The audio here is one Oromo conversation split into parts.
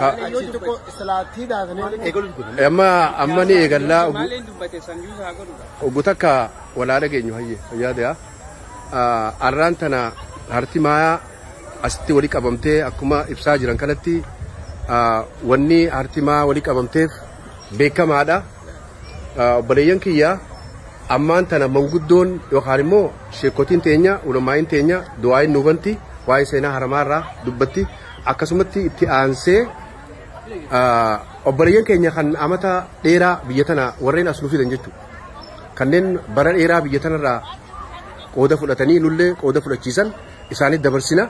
Ka- Yoo dubbatte islaattii daafnee eegaluutu godhu. Amma amma ni eegallaa oguu- Maaleen dubbate san yuusa haa godhudha. oggu takka walaa dhageenyu hayye fayyaa ta'aa. Arraan tana harti maayaa asitti wali qabamtee akkuma ibsaa jiran kanatti ah, wanni harti maayaa wali qabamteef beekamaadha. Ah, Obboleeyyan kiyya ammaan tana manguddoon yookaan immoo sheekotiin teenya ulamaa'iin teenya du'aa'iin nuubanti waa'ee seenaa haramaarraa dubbatti. Akkasumatti itti aansee obboleeyyan keenya kan amata dheeraa biyya tana warreen as nu fidan jechuudha. Kanneen bara dheeraa biyya tanarraa qooda fudhatanii nullee qooda fudhachiisan isaanitti dabarsina.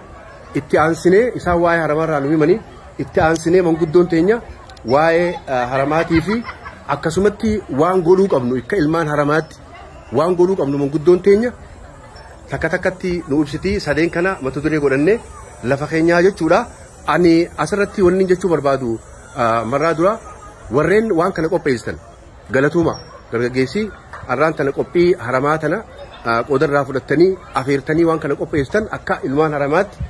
Itti aansinee isaan waa'ee haramaarraa nu himanii itti aansinee manguddoon teenya waa'ee haramaatii fi akkasumatti waan godhuu qabnu akka ilmaan haramaatti waan godhuu qabnu manguddoon teenya takka takkatti nu ibsiti sadeen kana mata duree godhanne lafa keenyaa jechuudha. Ani asirratti wanni jechuu barbaadu marraa dura warreen waan kana qopheessitan galatuuma dargaggeessi arraan tana qophii haramaa tana qoodarraa fudhattanii afeertanii waan kana qopheessitan akka ilmaan haramaatti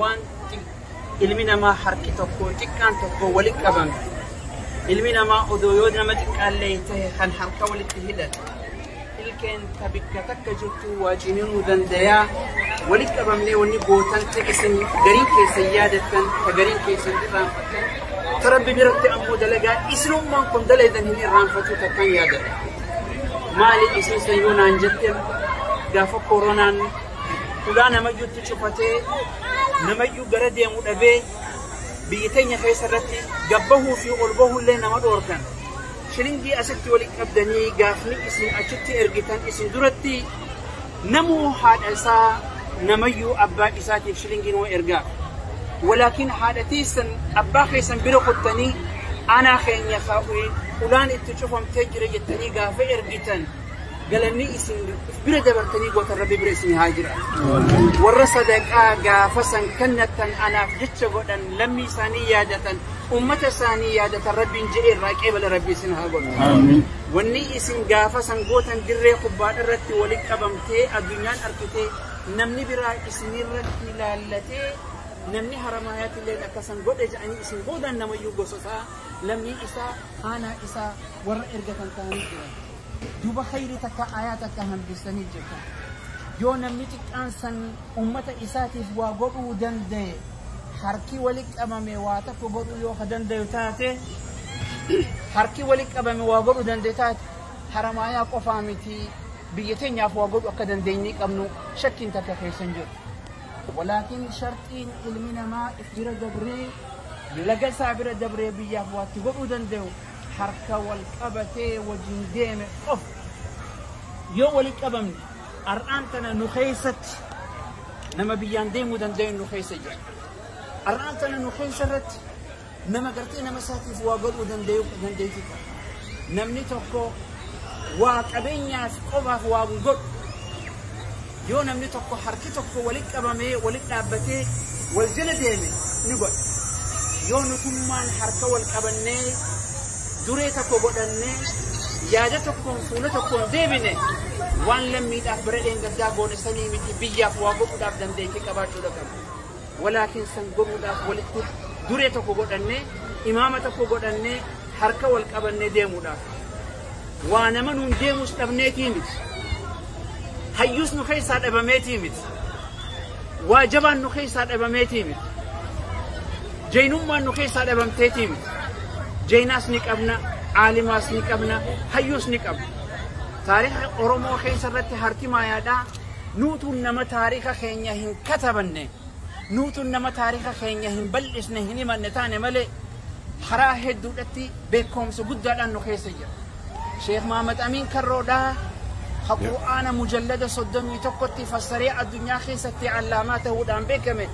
waan ilmi namaa harki tokko xiqqaan tokko walitti qabame ilmi namaa odoo yoo nama xiqqaallee ta'e kan harka walitti hidhate ilkeen ta bikka takka jirtu waa ciniinuu dandayaa walitti qabamnee wanni gootan ta isin gariin keessan yaadattan ta gariin keessan irraanfattan ta rabbi biratti ammoo dalagaa isinummaan kun daleedan hin irraanfatu takkan yaadata maali isin san yoo naan jettan gaafa koronaan Ulaa namayyuutti cufatee namayyuu gara deemu dhabee biyya keenya keessa irratti gabbahuu fi ol bahuullee nama dhoorkan. Shilingii asitti walitti qabdanii gaafni isin achitti ergitan isin duratti namuu haadha isaa namayyuu abbaa isaatiif shilingii nama ergaa. Walaakin haadha teessan abbaa keessan bira kuttanii aanaa keenya ulaan itti cufamtee jira jettanii gaafa ergitan. galanni isin bira dabartanii gootan rabbi bira isin haa jira warra sadaqaa gaafa san kannattan anaaf jecha godhan lammii isaanii yaadatan ummata isaanii yaadatan rabbiin jedhee irraa qeebala rabbi isin haa godhu wanni isin gaafa san gootan dirree kubbaadha irratti walitti qabamtee addunyaan argitee namni biraa isinirratti ilaallatee namni haramaayaatti illee akkasan godhe jedhanii isin boodaan namayyuu gosotaa lammii isaa aanaa isaa warra ergatan ta'anii jiran. Duuba khayri takka ayaa takka hambistanii jirtan. Yoo namni xiqqaan san ummata isaatiif waa godhuu danda'e harki wali qabame waa takka godhuu yoo ka danda'u taate harki wali qabame waa godhuu danda'e taate haramaayaa qofaa miti biyya teenyaaf waa godhuu akka dandeenyee qabnu shakkiin takka keessa hin jiru. Walaakin sharxiin ilmi namaa bira dabree laga isaa bira dabree biyyaaf waatti godhuu danda'u harka wal qabatee wajin deeme qofa yoo wali qabamne ar'aan tana nu keessatti nama biyyaan deemuu danda'een nu keessa jira. Ar'aan tana nu keessa irratti nama gartee nama isaatiif waa godhuu danda'u dandeetti qaba. Namni tokko waa qabeenyaaf qofaaf waa godhu Yoo namni tokko harki tokko walitti qabamee walitti dhaabbatee wal jala deeme ni godha. Yoo nutummaan harka wal qabannee duree tokko godhannee yaada tokkoon fuula tokkoon deebine waan lammiidhaaf bara dheengaddaa goone sanii miti biyyaaf waa godhuudhaaf dandeettii qabaachuudha qabna. walaa keessan godhuudhaaf walitti duree tokko godhannee imaama tokko godhannee harka wal qabannee deemuudhaaf waa nama nuun deemus dhabneetii miti hayyuus nu keessaa dhabameetii miti waa jabaan nu keessaa dhabameetii miti jeynummaan nu keessaa dhabamteetii miti jeynaas ni qabna aalimaas ni qabna hayyuus ni qabna taariikha oromoo keessa irratti harki maayaadhaa Nuutu nama taarika keenya hin katabanne, nuutu nama taarika keenya hin bal'isne, hin himanne taane malee karaa hedduudhatti beekkoomsa guddaadhaan nu keessa jira. Sheekh Mahammad Amiin Karroodhaa ka Qur'aana mujallada 31tti fassaree addunyaa keessatti allaamaa ta'uudhaan beekame.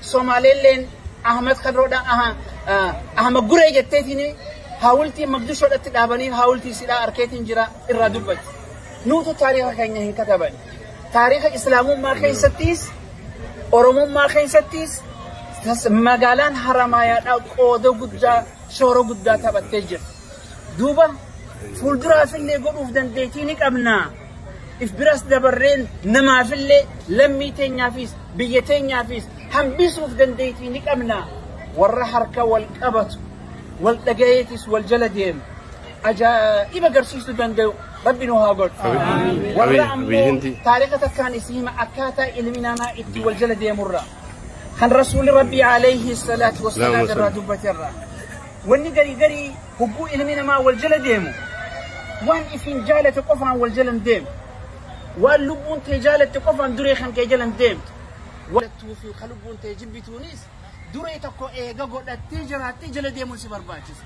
Somaaleelleen Ahmed Kadroodha Ahmed Guree jetteetiin haawultii Maqdishoodhatti dhaabanii haawultii sidhaa arkeetiin jira irraa dubbatti. Nuutu taariika keenya hin kataban. Taariika Islaamummaa keessattis Oromummaa keessattis magaalaan Haramaayaadhaa qooda guddaa shoora guddaa taphattee jirti. Duuba fuulduraaf illee godhuuf dandeettii ni qabna. if biras dabarreen namaafillee lammii teenyaafis biyya teenyaafis hambisuuf dandeettii ni qabna warra harka wal qabatu wal dhagayeetis wal jala deemu ajaa'iba garsiisuu danda'u rabbi nu haa godhu warra ammoo taariika takkaan isii hima akkaataa ilmi namaa itti wal jala deemurra kan rasuuli rabbii alayhi salaatu wasalaam irraa dubbaterra wanni garii garii Hogguu ilmi namaa wal jala deemu, waan ifiin jaalate qofaan wal jala hin deemu. Waan lubbuun tee jaalatte qofaan duree kan kee jala hin deemtu. Jaalattuu fi kan lubbuun tee jibbituunis duree tokko eega godhattee jiraattee jala deemuun si barbaachisa.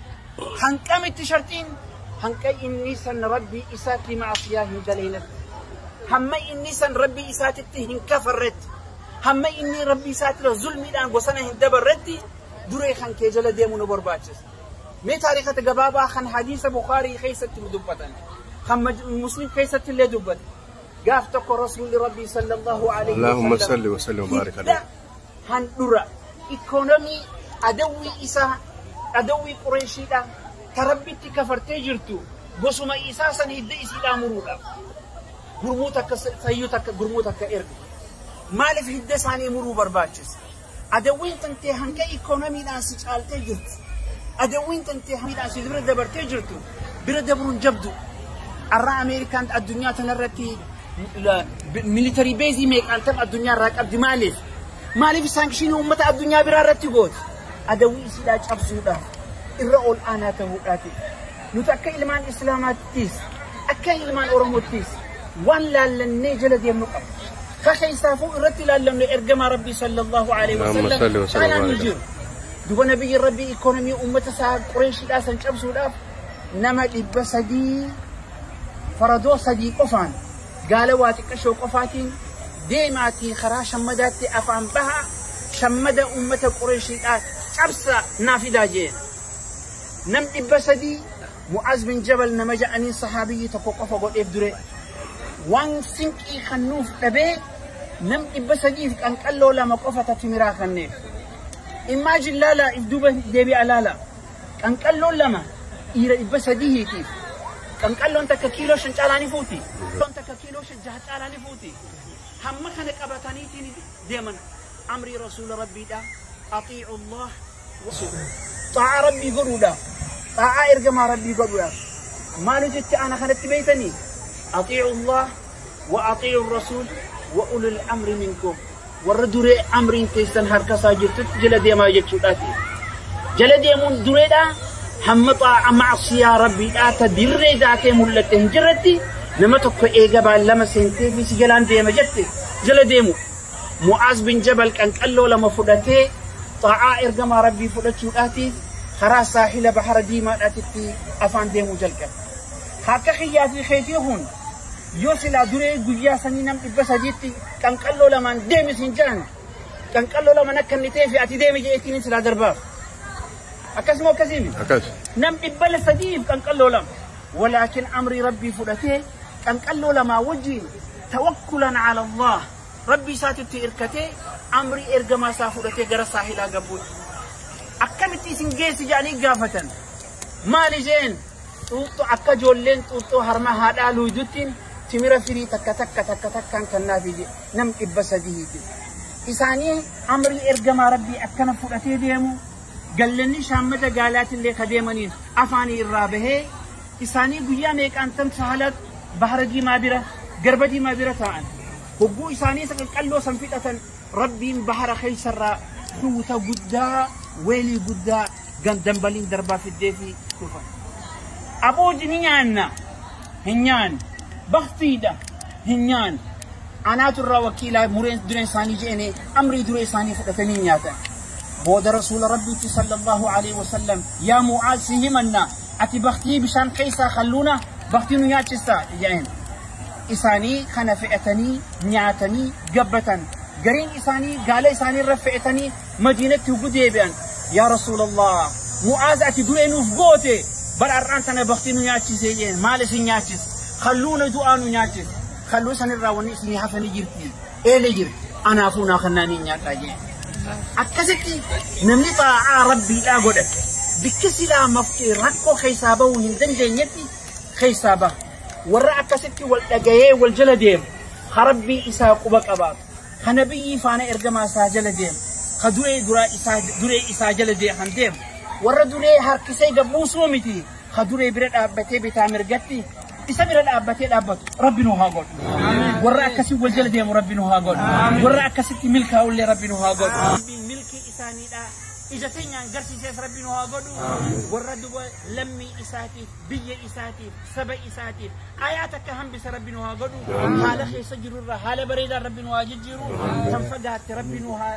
Hanqa miti sharxiin. Hanqa inni san rabbii isaatti maasiyaa hin daleenetti. Hamma inni san rabbii isaatitti hin kafarretti. Hamma inni rabbii isaatira zulmiidhaan bosana hin dabarretti duree kan kee jala deemu nu barbaachisa. Mee taarikata gabaabaa kan hadiisa Bukhaarii keessatti nu dubbatan, kan Muslim keessatti illee dubbate. Gaaf tokko Rasuulli Rabbii sallallahu alaihi Allahumma salli wa salli wa baarik hidda alaihi. handhura ikoonomii adawwii isaa adawwii qureeshiidha ta rabbitti kafartee jirtu gosuma isaa san hidda isiidhaa muruudha. Gurmuu takka fayyuu takka gurmuu takka ergu. Maaliif hidda isaanii muruu barbaachisa? Adawwiin tantee hanga ikoonomiidhaan si caaltee jirtu, adawwiin tantee hamiidhaan si bira dabartee jirtu bira dabruun jabdu. Arraa Ameerikaan addunyaa tanarratti militarii beezii meeqaan tapha addunyaa irraa qabdi maaliif? Maaliif saankishinii uummata addunyaa biraa irratti gooti? Adawwii isiidhaa cabsuudha. Irra ol aanaa ta'uudhaati. Nuti akka ilmaan Islaamaattis, akka ilmaan Oromoottis waan laallannee jala deemnu qabna. ka keessaafuu irratti ilaallamne ergamaa rabbii sallallahu alaihi Allahumma salli wasallam wa sallim caalaa wa hin barik. jiru duba nabiyyi rabbii ikoonomii ummata isaa qureeshidhaa san cabsuudhaaf nama dhibba sadii faradoo sadii qofaan gaala waa xiqqashoo qofaatiin deemaatii karaa shammadaatti afaan bahaa shammada ummata qureeshiidhaa cabsa naa fidaa jeen nam dhibba sadii Mu'aaz bin Jabal nama ja'aniin sahaabiyyi tokko qofa godheef dure. Waan sinqii kan nuuf dhabee nam dhibba sadiif qanqalloo lama qofa ta timiraa kanneef. Immaajin laalaa if duuba deebi'a laalaa. Qanqalloon lama dhiira dhibba sadihiitiif. Qanqalloon takka kiiloo shan caalaa ni fuuti. Qanqalloon takka kiiloo shan jaha caalaa ni fuuti. Hamma kana qabataniitiin deeman. Amrii Rasuula Rabbiidha. Axiicu Allah Xaa'aa Rabbii godhuudhaaf, xaa'aa ergamaa Rabbii godhuudhaaf maaliif jecha ana kanatti beeytanii? Axiicu Allah wa axiicu Rasuul wa ulul amri minkum. Warra duree amriin teessan harka isaa jirtutti jala deemaa jechuudhaati. Jala deemuun dureedhaa hamma xaa'a macsiyaa Rabbiidhaa ta dirree daakee mul'atte hin jirretti nama tokko eega baallama seentee fi si jalaan deema jette jala deemu. Mu'aaz bin Jabal qanqalloo lama fudhatee xaa'aa ergamaa Rabbii fudhachuudhaatiif karaa saahila bahara diimaadhaatitti afaan deemuu jalqabe. Akka kiyyaa fi keetii kun yoo silaa duree guyyaa sanii nam dhibba sadiitti qanqalloo lamaan deemi siin jedhan qanqalloo lamaan akka inni ta'ee fi ati deemi jedheetiin silaa darbaaf. Akkasuma akkasiimi. Akkas. Nam dhibba sadiif qanqalloo lama. Walaakin amrii Rabbii fudhatee Qanqalloo lamaa wajjiin tawakkulan ala Allaah Rabbii isaatitti irkatee amrii ergamaa isaa fudhatee gara saahilaa gabbuutti. Akkamitti isin geessi jedhanii gaafatan. Maal isheen xuuxxoo akka ijoolleen xuuxxoo harma haadhaa luuyduttiin timira firii takka takka takka takkaan kannaaf ije nam dhibba sadii ije. Isaanii amrii ergamaa Rabbii akkana fudhatee deemu gallanni shaammata gaalaatillee ka deemaniin afaanii irraa bahee isaanii guyyaa meeqaan tan sahalat bahara diimaa bira garba diimaa bira taa'an hogguu isaanii isa qaqqalloo san fixatan rabbiin bahara keessarraa tuuta guddaa weelii guddaa gandambaliin darbaa fiddee fi dhufan abooji ni nyaanna hin nyaanne baktiidha hin nyaanne anaatu irraa wakiilaa mureen dureen isaanii je'ene amrii duree isaanii fudhatanii nyaatan booda rasuula rabbiitti sallallahu alaihi wasallam yaa mu'aaz si himanna Ati baktii bishaan keessaa kalluuna baktii nu nyaachista jedheen. Isaanii kana fe'atanii nyaatanii gabbatan. Gariin isaanii gaala isaanii irra fe'atanii madiinatti huggu deebi'an. Yaa Rasuulallah mu'aaz ati duree nuuf goote bara har'aan tana baktii nu nyaachisee jedheen. Maal isin nyaachis? Kalluuna du'aa nu nyaachis. Kalluu sanirraa wanni isinii hafanii jirti. Eelee jira. Anaafuu naa kannaa ni nyaadhaa jee. Akkasitti namni xaa'aa rabbiidhaa godhate bikki silaa mafti rakkoo keessaa bahuu hin dandeenyetti keessaa baha. Warra akkasitti wal dhagayee wal jala deemu ha rabbii isaa quba qabaatu. Ha nabiyyii faana ergamaa isaa jala deemu. Ha duree duraa isaa duree isaa jala deeman deemu. Warra duree harkisee gabbuusuu miti ka duree bira dhaabbatee bitaa mirgatti isa bira dhaabbatee dhaabbatu rabbi nu haa godhu warra akkasii wal jala deemu rabbi nu haa godhu warra akkasitti milkaa'ullee rabbi nu haa godhu rabbiin milkii isaaniidha ija teenyaan garsiisees rabbi nu haa godhu warra duba lammii isaatiif biyya isaatiif saba isaatiif ayaa takka hambisa rabbi nu haa godhu haala keessa jirurra haala bareedaan rabbi nu haa jijjiiru kan fagaatte rabbi nu haa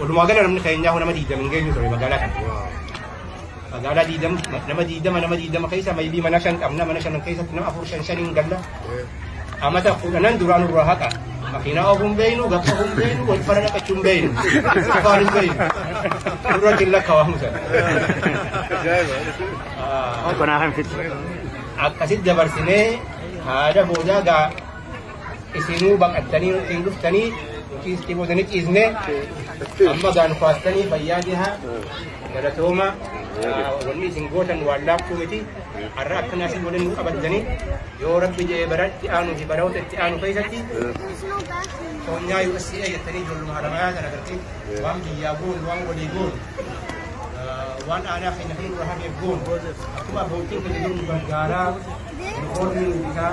Walumaa gala namni keenyaa nama diidama hin geenyu ture magaalaa kana. Magaalaa diidama nama diidama nama diidama keessa maybii mana shan qabna mana shanan keessatti nama afur shan shaniin galla. Amata kudhanan duraan irraa haqa. Makiinaa ofuun beeynu gabsa ofuun beeynu wal fara naqachuun beeynu. Afaan hin beeynu. Dura jilla kawaamu sana. Kanaa kan fitu. Akkasitti dabarsinee haada boodaa gaa Isinuu baqattanii nutti hin dhuftanii nuti itti booda ni ciisne amma gaa nu kaastanii fayyaa jiha galatooma wanni isin gootan waan laaftuu miti har'a akkana asii waliin nu qabattanii yoo rabbi jedhee bara itti aanuu fi baroota itti aanu keessatti soonyaa USA jettanii ijoolluma haramayaa kana gartee waan biyyaa goonu waan walii goonu waan aanaa keenya kan irraa hafeef goonu akkuma abbootiin keenya nu gargaaraa nu horii nu bitaa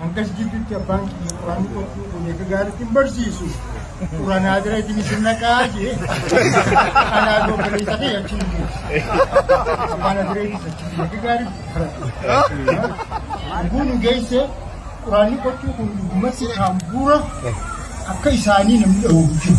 Hangas gidduutti abbaan kiyya quraanni qotuu kun eega gaariitti hin barsiisu. Quraanaa bira isin isin naqaa jee. Anaa doo baleessa kee achi hin geessu. Abbaan aduree itti achi eega gaariitti baratu. Kun geesse quraanni qotuu kun dhugumatti kaambuura akka isaanii namni dhahuuf jiru.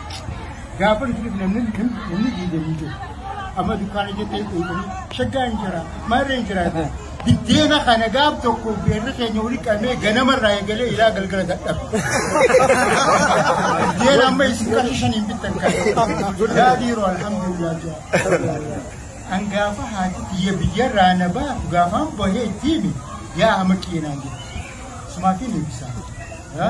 Gaafa nuti dhufne namni namni diigamii jiru. Amma dukkaana jettee quuqanii shaggaa hin jira maarree hin jiraate. Biddeena kana gaaf tokko beerri keenya walitti qabnee ganamarraa eegalee ilaa galgala dadhabe. Biddeena amma isin qarshii shaniin bittan kan. Yaa dhiiroo alhamdulillah jaa. An gaafa haati biyya biyyarraa na baatu gaafaan bahee ittiin yaa hama qeenaan jedhu. Sumaatiin eebbisaa.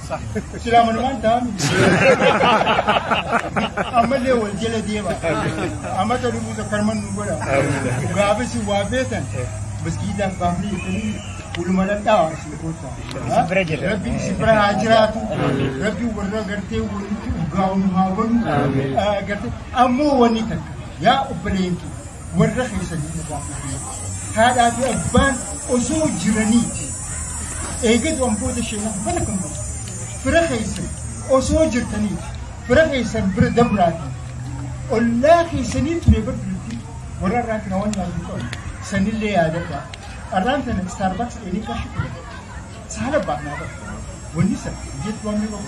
Silaa manumaan ta'an ammallee wal jala deema. Amma ta'u dhufuu tokko harman nu godha. Gaafis waa beekan maskiidaan baafnee jettanii waluma dhadhaa isin goota. Bira jira. Rabbi isin bira haa jiraatu. Rabbi warra gartee walitti urgaa'u nu haa godhu. Ah, Gartee ammoo wanni takka yaa obboleeyyan kee warra keessanii irraa dhufee haadhaa fi abbaan osoo jiranii eegatu wantoota sheenaa bara kan godhu fira keessan osoo jirtanii fira keessan bira dabraatii ollaa keessanii ture bar duratti warra irraa kana waan yaaduu qabu sanillee yaadadha arraan tana istaarbaaks dheedee qarshii kudha saala baanaa bara wanni sana jettu waan qabu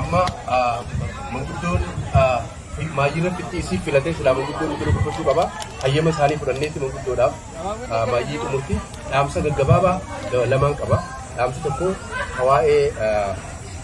amma manguddoon maayyina fixxiisii filatee silaa manguddoon iddoo dubbachuu qaba. Hayyama isaanii fudhanneetti manguddoodhaaf maayyii xumurti. Dhaamsa gaggabaabaa lamaan qaba. Dhaamsi tokko waa'ee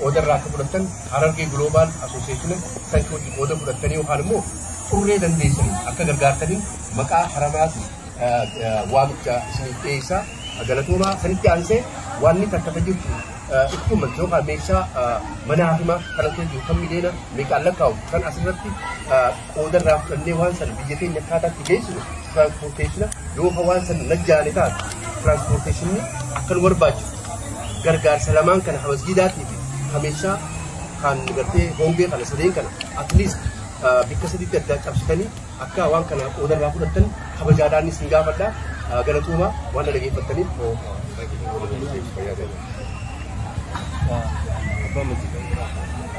qooda irraa akka fudhattan Harargee Global Association sanchi wajjin qooda fudhattanii yookaan immoo xurree dandeessanii akka gargaartanii maqaa haramaatiin waamicha isiniif dhiyeessaa galatoomaa sanitti aansee waanni takkata jirtu ittuma yookaan meeshaa mana hakimaa kan akka jiru kan miidheena meeqaan lakkaa'u kan asirratti qooda irraa fudhannee waan sana biyya keenya akkaataatti geessinu tiraanspoorteeshina yoo ka waan sana najjaane taate tiraanspoorteeshinni akka nu barbaachisu gargaarsa lamaan kana ka masgiidaatii fi ka meeshaa kan gartee hongee kana sadeen kana at least bikka sadiitti addaa cabsitanii akka waan kana qooda irraa fudhattan kabajaadhaan isin gaafadha galatoomaa waan dhaggeeffattaniif Abbaa Murtii.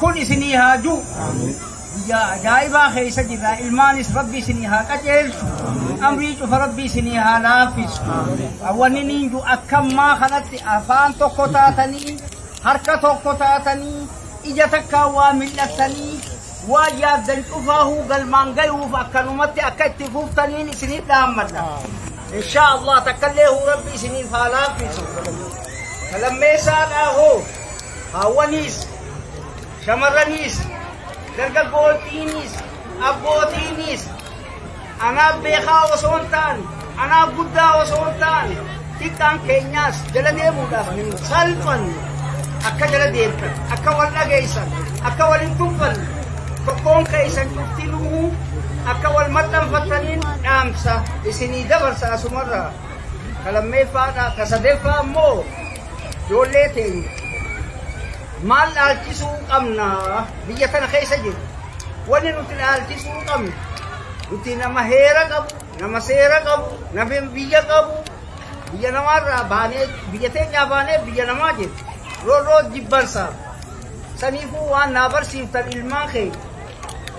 kun isinii haa du'u. Guyyaa ajaa'ibaa keessa jirra. Ilmaanis Rabbi isinii haa qajeelchu. Amrii cufa Rabbi isinii haa laaffisu. Wanni niin du'u akkammaa kanatti afaan tokko taatanii, harka tokko taatanii, ija takkaa waa mil'attanii, waa yaaddan cufaahuu galmaan gayuuf akkanumatti akka itti fuftaniin isiniif dhaammadha. Inshaa Allah takkallee huu Rabbi isiniif haa laaffisu. Lammeessaadhaa hoo? Haawwaniis, shamarraniis, dargaggoottiiniis, abbootiiniis anaaf beekaa osoo hin taane, anaaf guddaa osoo hin taane, xiqqaan keenyaas jala deemuudhaaf hin salphanne. Akka jala deemtan, akka wal dhageessan, akka wal hin tuffanne, tokkoon keessan cufti lu'uu akka wal maxxanfattaniin dhaamsa isinii dabarsa asumarraa. Ka lammeeffaadhaa, ka sadeeffaa immoo Ijoollee teenya maal dhaalchisuu qabna biyya tana keessa jiru wanni nuti dhaalchisuu qabnu nuti nama heera qabu nama seera qabu nama biyya qabu biyya namaarraa baanee biyya teenyaa baanee biyya namaa jennu roorroo jibbansaaf saniifuu waan naa barsiiftan ilmaan keenya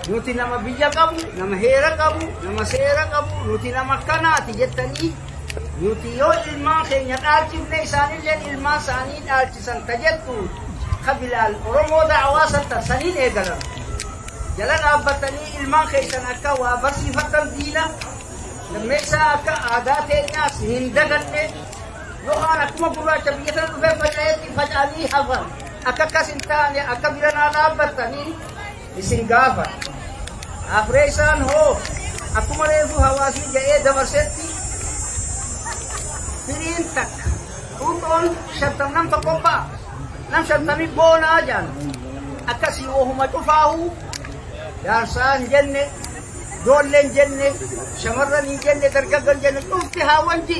Nuti nama biyya qabu, nama heera qabu, nama seera qabu, nuti nama akkanaati jettanii nuti yoo ilmaan keenya dhaalchifne isaanilleen ilmaan isaanii dhaalchisan ka jettu ka Bilaal Oromoo da'awaa san tan saniin eegalan. Jala dhaabbattanii ilmaan keessan akka waa barsiifattan diina lammeessaa akka aadaa teenyaas hin daganne yookaan akkuma gurraacha biyya sana dhufee faca'etti faca'anii hafan akka akkas hin taane akka biranaa dhaabbattanii isin gaafa afree isaan hoo akkuma reefu hawaasni ga'ee dabarsetti firiin takka dhuunfoon shantam nam tokko ba'a nam shantami boonaa jaan akkasii ohuma cufaahu jaarsaa hin jenne ijoollee hin jenne shamarran hin jenne dargaggoon hin jenne cufti haa wanji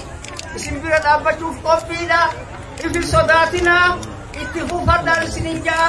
isin bira dhaabbachuuf qophiidha isin sodaatinaa itti fuufadhaan isin hin ja'a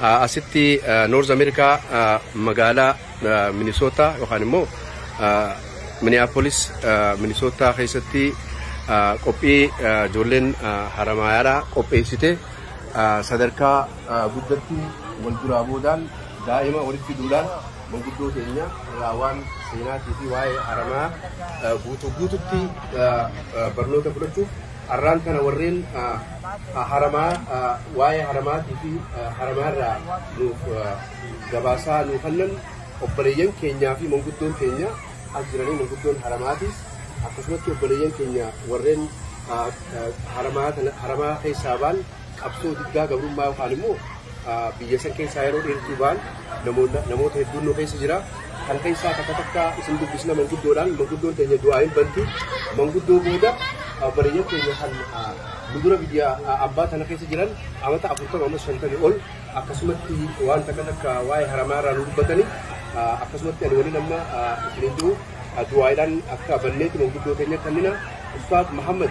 Asitti North America magaalaa Minnesota yookaan immoo Minneapolis Minnesota keessatti qophii ijoolleen Haramaayaadhaa qopheessite sadarkaa guddatti wal duraa boodaan daa'ima walitti duudhaan manguddoo keenya irraa waan seenaatii fi waa'ee Haramaa guutuu guututti barnoota fudhachuuf Arraan tana warreen haramaa waa'ee haramaatii fi haramaa irraa nuuf gabaasaa nuu kannan obboleeyyan keenyaa fi manguddoon keenya as jiranii manguddoon haramaatiis akkasumatti obboleeyyan keenya warreen haramaa keessaa baan Qabsoo diddaa gabrummaa yookaan immoo biyya san keessaa yeroo dheertuu ba'an namoota hedduun nu keessa jira. Kan keessaa takka takka isin dubbisna manguddoodhaan manguddoon teenya du'aa hin banti. Manguddoo booda bareeyyaan teenya kan nu dura biyya abbaa tana keessa jiran amata afurtama ammas shantami ol akkasumatti waan takka takka waa'ee haramaa irraa nu dubbatani akkasumatti ani waliin amma isiniin jiru du'aadhaan akka banneetti manguddoo teenya kannina Ustaaz Muhammad